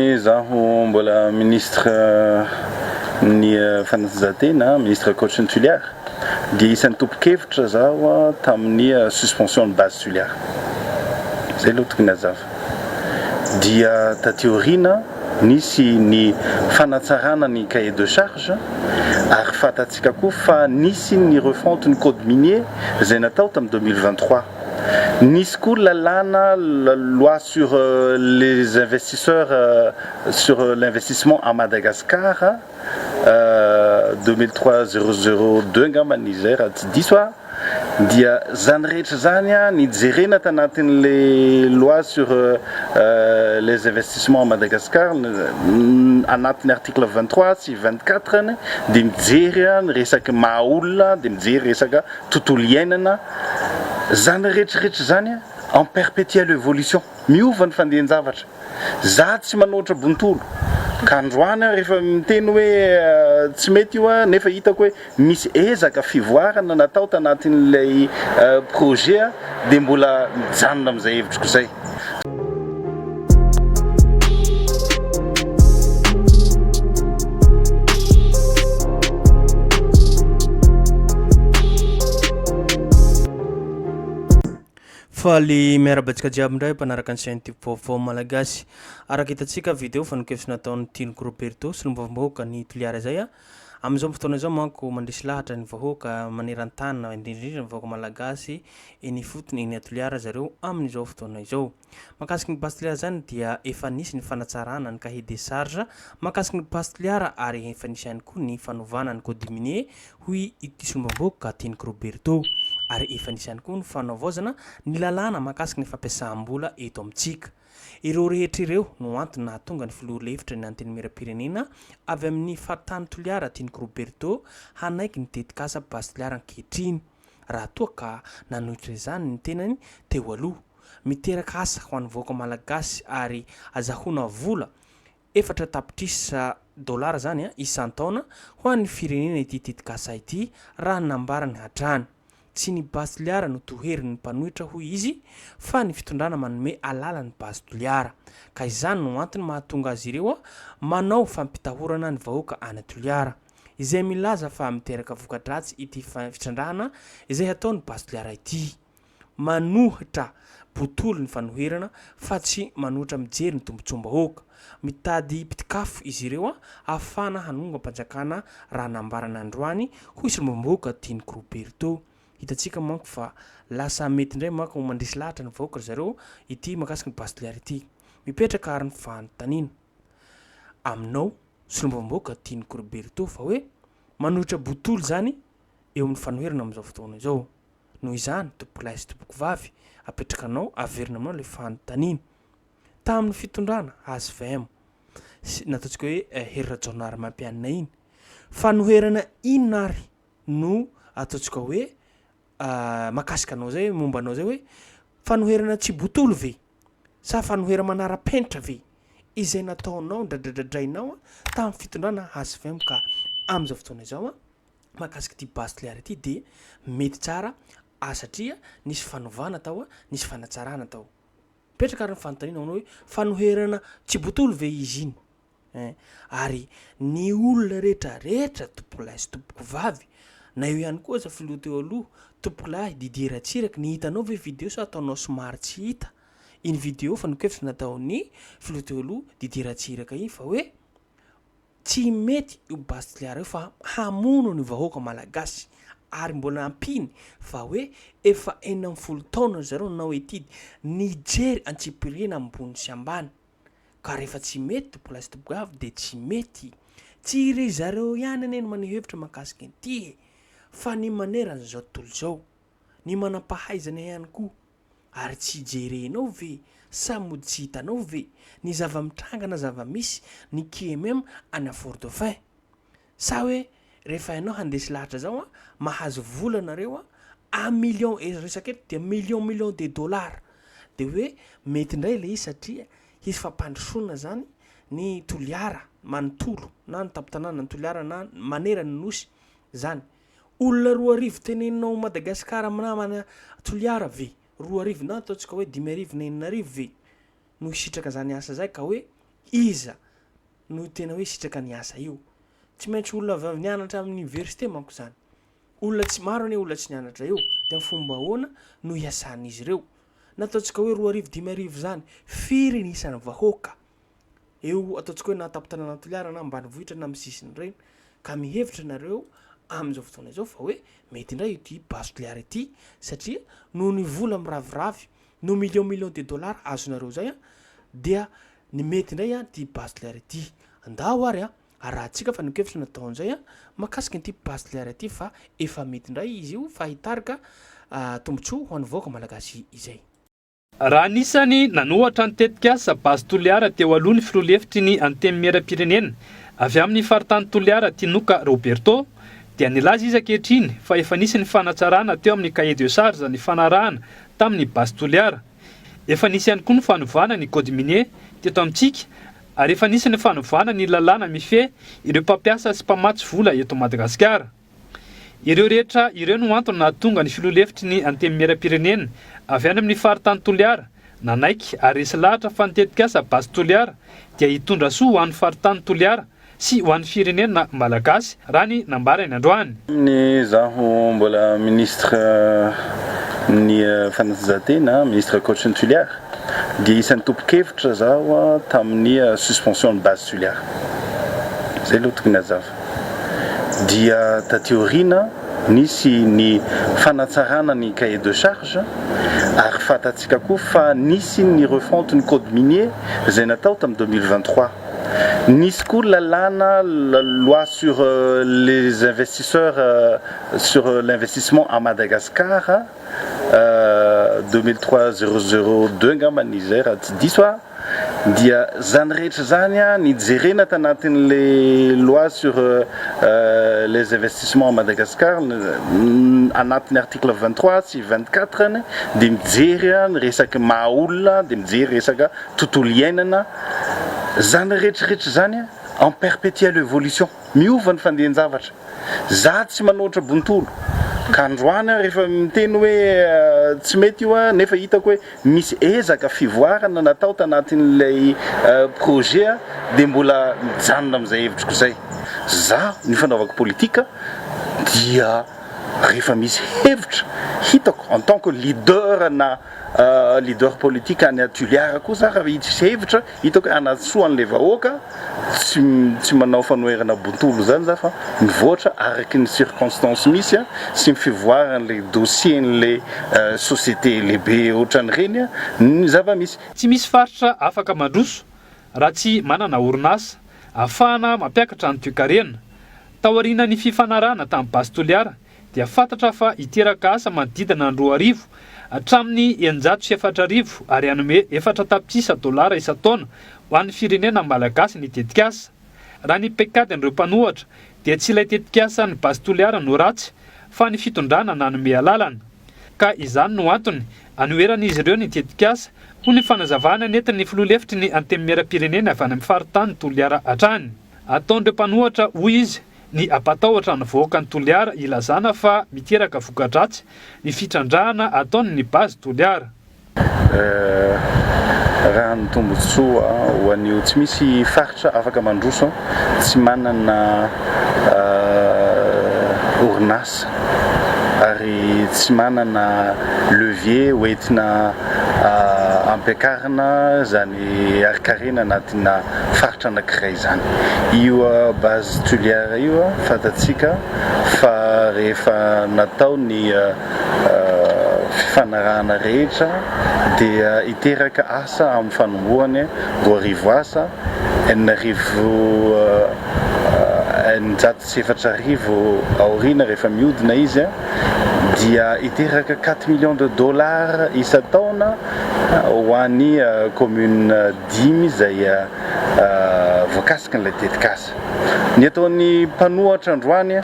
Izaho mbola Ministre ny Fanatanjahantena, Ministre Coach ny Tuléar, dia isan'ny tompon-kevitra izaho tamin'ny suspension ny Base Tuléar. Izay aloha tokony hazava. Dia taty aoriana nisy ny fanatsarana ny cahier de charge ary fantatsika koa fa nisy ny refonte ny Code Minier izay natao tamin'ny deux mille vingt-trois. Nisy koa lalàna la loi sur les investisseurs sur l'investissement à Madagascar deux mille trois zéro zéro deux angambany izay raha tsy diso aho dia izany rehetra izany ny jerena tanatin'le loi sur les investissements à Madagascar anatin'ny article vingt trois sy vingt quatre ny dia mijery ny resaky maha olona dia mijery resaka tontolo iainana, zany rehetra rehetra zany en perpetielle evolution, miova ny fandehan-javatra, za tsy manoatra bontolo ka androany aho rehefa miteny hoe tsy mety io an nefa hitako hoe misy ezaka fivoarana natao tanatin'ilay projet dia mbola mijanona amin'izay hevitriko izay. Faly miaraba antsika jiaby indray mpanaraka ny chaîne Tube Vaovao Malagasy. Araka hitantsika vidéo fanenkevitra nataon'ny Tianoko Roberto, solombavambahoaka ny Toliara izay, Amin'izao fotoana izao manko mandresy lahatra ny vahoaka maneran-tany na indrindra indrindra ny vahoaka malagasy eny ifotony eny Toliara zareo amin'izao fotoana izao. Mahakasiky ny Base Toliara izany dia efa nisy ny fanatsarana ny cahier des charges mahakasiky ny Base Toliara ary efa nisy ihany koa ny fanovana ny code minier hoy ity sombambohoka Teniky Roberto ary efa nisy ihany koa ny fanaovaozana ny lalàna mahakasiky ny fampiasam-bola eto amintsika. Ireo rehetra ireo no antony nahatonga ny filoha lefitry ny Antenimierampirenena avy amin'ny faritany Toliara Tianiko Roberto hanaiky ny tetikasa Base Toliara ankehitriny raha toa ka nanohitra izany ny tenany teo aloha. Miteraka asa ho an'ny vahoaka malagasy ary azahoana vola Efatra tapitrisa dolara izany isan-taona ho an'ny firenena ity tetikasa ity, raha ny nambarany hatrany. Tsy ny Base Toliara no toherin'ny mpanohitra hoy izy fa ny fitondrana manome alala ny Base Toliara. Ka izany no antony mahatonga azy ireo manao fampitahorana ny vahoaka any Toliara. Izay milaza fa miteraka voka-dratsy ity fitrandrahana izay hataon'ny Base Toliara ity. manohitra botolo ny fanoherana fa tsy manohitra mijery ny tombotsoam-bahoaka. Mitady mpitikafo izy ireo ahafahana hanongam-panjakana raha nambarany androany, hoy solombavambahoaka Tianiko Roberto. Hitantsika manko fa lasa mety indray manko ho mandresy lahatra ny vahoaka ry zareo ity mahakasika ny Base de l'air ity. Mipetraka ary ny fanontaniana aminao solombavambahoaka Tianiko Roberto fa hoe manohitra botolo izany eo amin'ny fanoherana amin'izao fotoana izao. Noho izany, tompokolahy sy tompokovavy, apetraka anao, averina aminao ilay fanontaniana. Tamin'ny fitondrana hvm, sy ny ataontsika hoe eh, Hery Rajaonarimampianina iny, fanoherana inona ary no ataontsika hoe ah, mahakasika anao izay, momba anao izay hoe fanoherana tsy botolo ve? Sa fanoherana manara-penitra ve? Izay nataonao, ndradradradrainao tamin'ny fitondrana hvm ka amin'izao fotoana izao an, mahakasika ity bastliara ity dia mety tsara a satria nisy fanovana tao a, nisy fanatsarana tao. Mipetraka ary ny fanontaniana manao hoe fanoherana tsy botolo ve izy iny ein? Ary ny olona rehetra rehetra tompokolahy sy tompokovavy na eo ihany koa aza filoha teo aloha tompokolahy Didier Ratsiraka ny hitanao ve video sa ataonao somary tsy hita iny video fa ny kevitra nataon'ny filoha teo aloha Didier Ratsiraka iny fa hoe Tsy mety io Bastliara io fa hamono ny vahoaka malagasy ary mbola ampiany fa hoe efa enina ambin'ny folo taona ry zareo nanao étude nijery antsipiriany ambony sy ambany ka rehefa tsy mety to place to behaved dia tsy mety. Tsy ry zareo ihany anie no maneho hevitra mahakasika ity e fa ny manerana izao tontolo izao. Ny manam-pahaizana ihany koa. Ary tsy jerenao ve sa mody tsy hitanao ve ny zava-mitranga na zava-misy ny QMM ana Fort Dauphin? Sa hoe rehefa ianao handresy lahatra zao an, mahazo vola nareo an, a million eto resaka eto dia million million de dollars de hoe mety ndray le izy satria hisy fampandrosoana zany ny Toliara manontolo na ny tampon-tanànan'i Toliara na manerana ny Nosy zany. Olona roa arivo tenenina ao Madagascar am namana Toliara ve? Roa arivo na ataontsika hoe dimy arivo na enina arivo ve no hisitraka zany asa zay ka hoe iza no tena hoe hisitraka ny asa io? Tsy maintsy olona avy avy nianatra am université manko zany. Olona tsy maro anie olona tsy nianatra eo de am fomba ahoana no hiasan'izy ireo? Na ataontsika hoe roa arivo dimy arivo zany firy ny isan'ny vahoaka? eo ataontsika hoe na an-tampon-tanàna Toliara na ambanivohitra na amin'ny sisiny ireny ka mihevitra ianareo amin'izao fotoana izao fa hoe mety indray ity base Toliara ity satria noho ny vola miraviravy no millions millions de dollars azonareo izay a dia ny mety indray a ity base Toliara ity andao ary a arahantsika fa nokevitra natao an'izay a makasika ity base Toliara ity fa efa mety indray izy io fa hitarika ah, tombontsoa ho an'ny vahoaka malagasy izay. Raha anisan'ny nanohatra ny tetikasa Base Toliara teo aloha ny filoha lefitry ny Antenimierampirenena avy amin'ny faritany Toliara Tinoka Roberto dia nilaza izy ankehitriny fa efa nisy ny fanatsarana teo amin'ny cahier de charge nifanarahana tamin'ny Base Toliara. Efa nisy ihany koa ny fanovana ny code minier teto amintsika ary efa nisy ny fanovana ny lalàna mifehy ireo mpampiasa sy mpamatsy vola eto Madagasikara. Ireo rehetra ireo no antony nahatonga ny filoha lefitry ny Antenimierampirenena avy any amin'ny faritany Toliara nanaiky ary resy lahatra fa ny tetikasa Base Toliara dia hitondra soa ho an'ny faritany Toliara sy ho an'ny firenena Malagasy raha ny nambarany androany. Tamin'ny izaho mbola Ministra ny Fanatanjahantena, Ministre ankoatry ny Tuliara, dia isan'ny tompon-kevitra izaho tamin'ny suspension ny Base Tuliara. Izay aloha tokony hazava. dia taty aoriana nisy ny fanatsarana ny cahier de charge ary fantatsika koa fa nisy ny refonte ny code minier izay natao tamin'ny deux mille vingt trois. Nisy koa lalàna la loi sur les investisseurs sur l'investissement à Madagascar. deux mille trois zero zero deux angamba izay raha tsy diso aho dia izany rehetra izany ny jerena tanatin'ilay loi sur les investissements à Madagascar anatin'ny article vingt trois sy vingt quatre ny dia mijery ny resaky maha olona dia mijery resaka tontolo iainana izany rehetra rehetra izany en perpétuelle évolution. Miova ny fandehan-javatra. Za tsy manoatra bontolo ka androany aho rehefa miteny hoe tsy mety io an, nefa hitako hoe misy ezaka fivoarana natao tanatin'ilay projet dia mbola mijanona amin'izay hevitriko izay. Za ny fanaovako politika dia rehefa misy hevitra hitako en tant que leader na leader politika any Toliara koa za raha misy hevitra, Hitako hoe hanatsoa an'ilay vahoaka, tsy tsy manao fanoherana bontolo izany za fa mivoatra araka ny circonstance misy a, sy ny fivoaran'ilay dossier-n'ilay société lehibe ohatran'ireny ny zava-misy. Tsy misy faritra afaka mandroso raha tsy manana orinasa afahana mampiakatra ny toekarena. Taorianan'ny fifanarahana tamin'i Base Toliara dia fantatra fa hiteraka asa manodidina ny roa arivo hatramin'ny eninjato sy efatra arivo ary hanome efatra tapitrisa dolara isan-taona ho an'ny firenena malagasy ny tetikasa. Raha ny paikadin'ireo mpanohatra dia tsy ilay tetikasan'i Base Toliara no ratsy fa ny fitondrana nanome alalana. Ka izany no antony anoheran'izy ireo ny tetikasa, hoy ny fanazavana nentin'ny filoha lefitry ny Antenimierampirenena avy any amin'ny faritany Toliara hatrany. Ataon'ireo mpanohatra, hoy izy, ny hampatahotra ny vahoakan'i Toliara hilazana fa miteraka voka-dratsy ny fitrandrahana ataon'ny Base Toliara. Eh, raha ny tombontsoa ho an'io tsy misy faritra afaka mandroso tsy manana eh, orinasa ary tsy manana levier hoentina eh, ampiakarina izany harin-karena anatina faritra anankiray izany. Io base Tuliar io fantatsika fa rehefa natao ny fifanarahana rehetra dia hiteraka asa amin'ny fanombohany, roa arivo asa, enina arivo, eninjato sy arivo asa. sy efatra arivo aoriana rehefa mihodina izy dia hiteraka quatre millions de dollars isan-taona ho an'ny communes dimy izay voakasikin'ilay tetikasa. Ny ataon'ny mpanohatra androany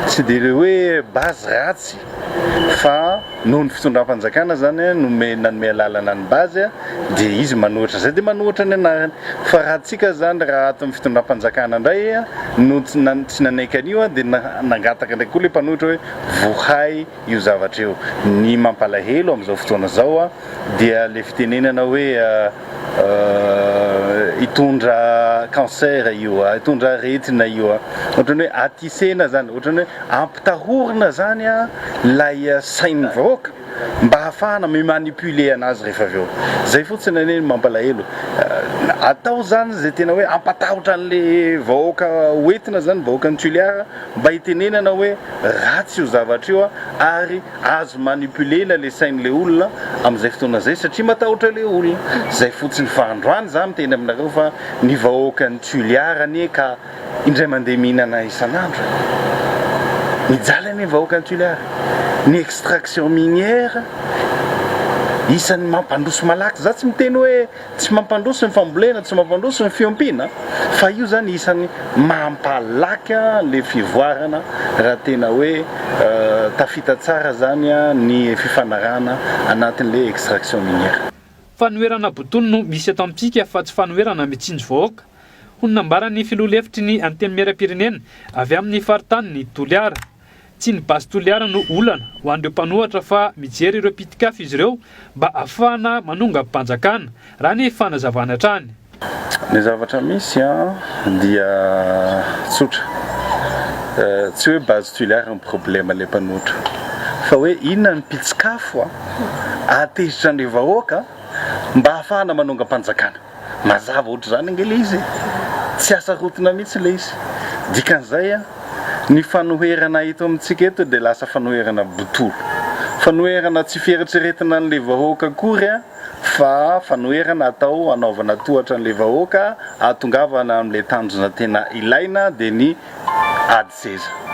tsy dia ilay hoe base ratsy fa noho ny fitondram-panjakana izany nomeny nanome alalana ny base dia izy manohitra izay dia manohitra ny anarany fa raha antsika izany raha ato ny fitondram-panjakana indray no tsy nanaiky an'io dia nangataka indray koa ilay mpanohitra hoe vohay io zavatra io, ny mampalahelo amin'izao fotoana izao dia ilay fitenenana hoe hitondra cancer io, hitondra aretina io, ohatran'ny hoe attisena izany, ohatran'ny hoe. Tahorina zany lay sain'ny vahoaka mba hahafahana mi manipuler anazy rehefa avy eo. Zay fotsiny anie ny mampalahelo. Atao zany zay tena hoe hampatahotra anle vahoaka ho entina zany, vahoakan'i Tuléar, mba hitenenana hoe ratsy io zavatra io ary azo manipuler-na le sain'le olona amzay fotoana zay satria matahotra le olona. Zay fotsiny fa androany za miteny aminareo fa ny vahoakan'i Tuléar anie ka. Indray mandeha mihinana isan'andro. Mijaly anie ny vahoaka any Toliara. Ny extraction minière isan'ny mampandroso malaky. Za tsy miteny hoe tsy mampandroso ny fambolena, tsy mampandroso ny fiompiana fa io zany isan'ny mampalaky an'le fivoarana raha tena hoe tafita tsara zany ny fifanarahana anatin'le extraction minière. Fanoherana botolo no misy eto amintsika fa tsy fanoherana mitsinjo vahoaka. hoy ny nambaran'ny filoha lefitry ny Antenimierampirenena avy amin'ny faritanin'i Toliara. Tsy ny basy Toliara no olana ho an'ireo mpanohatra fa mijery ireo pitik'afo izy ireo mba hahafahana manongam-panjakana, raha ny fanazavany hatrany. Ny zavatra misy dia tsotra, tsy hoe basy Toliara no problema ilay mpanohatra fa hoe inona ny pitik'afo hahatezitra an'ireo vahoaka mba hahafahana manongam-panjakana. Mazava ohatr'izany ange ilay izy e! Tsy hasarotina mihitsy ilay izy. Dikan'izay an, ny fanoherana eto amintsika eto dia lasa fanoherana botolo. Fanoherana tsy fieritreretina an'ilay vahoaka akory an, fa fanoherana atao hanaovana tohatra an'ilay vahoaka hahatongavana amin'ilay tanjona tena ilaina dia ny ady seza.